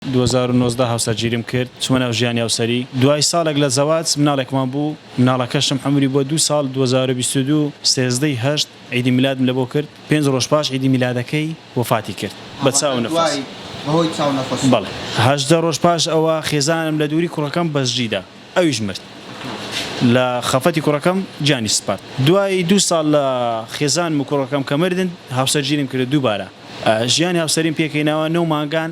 دوو هەزار و نۆزدە هاوسەرگیریم کرد چومە ناو ژیانی هاوسەری دوای ساڵێک لە زەواج مناڵێکمان بوو مناڵەکەشم عەمری بووە دوو ساڵ دوو هەزار و بیست و دوو سێزدە ی هەشت عیدی میلادم لەبۆ کرد پێنج ڕۆژ پاش عیدی میلادەکەی وەفاتی کرد بە چاو نەفەس بەڵێ هەژدە ڕۆژ پاش ئەوە خێزانم لە دووری کوڕەکەم بەجدیدا ئەویش مرد لە خەفەتی کوڕەکەم گیانی سپارد دوای دوو ساڵ لە خێزانم و کوڕەکەم کە مردن هاوسەرگیریم کرد دووبارە ژیانی هاوسەریم پێکەینەوە نۆ مانگان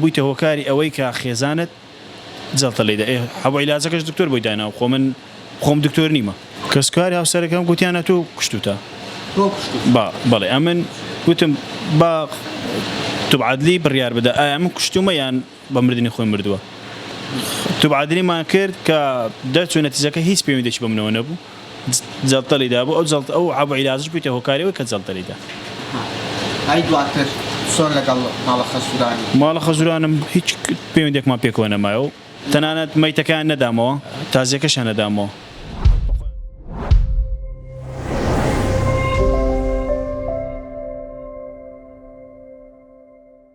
بویتە هۆکاری ئەوەی کە خێزانت جەڵتە لێی دا ئێ حەبۆ عیلاجەکەش دکتۆر بۆی داناوە خۆ من خۆم دکتۆر نیمە. کەسوکاری هاوسەرەکەم گوتیان ئەتۆ کوشتوتە با بەڵێ ئەمن گوتم با توب عەدلی بڕیار بدا ئایا من کوشتومە یان بە مردنی خۆی مردوە توب عەدلیمان کرد کە دەرچو نەتیجەکە هیچ پەیوەندێکی بەمنەوە نەبوو جەڵتەلی دابوو ئەو جەڵتە ئەو عەبە عیلاجش بوویتە هۆکاری ئەوەی کە جەڵتەلی دا. ئەی دواتر چۆن لەگەڵ ماڵە خەزوورانی؟ ماڵە خەزوورانم هیچ پەیوەندێکمان پێکەوە نەمایە و تەنانەت مەیتەکەیان نەدامەوە، تازییەکەشیان نەدامەوە.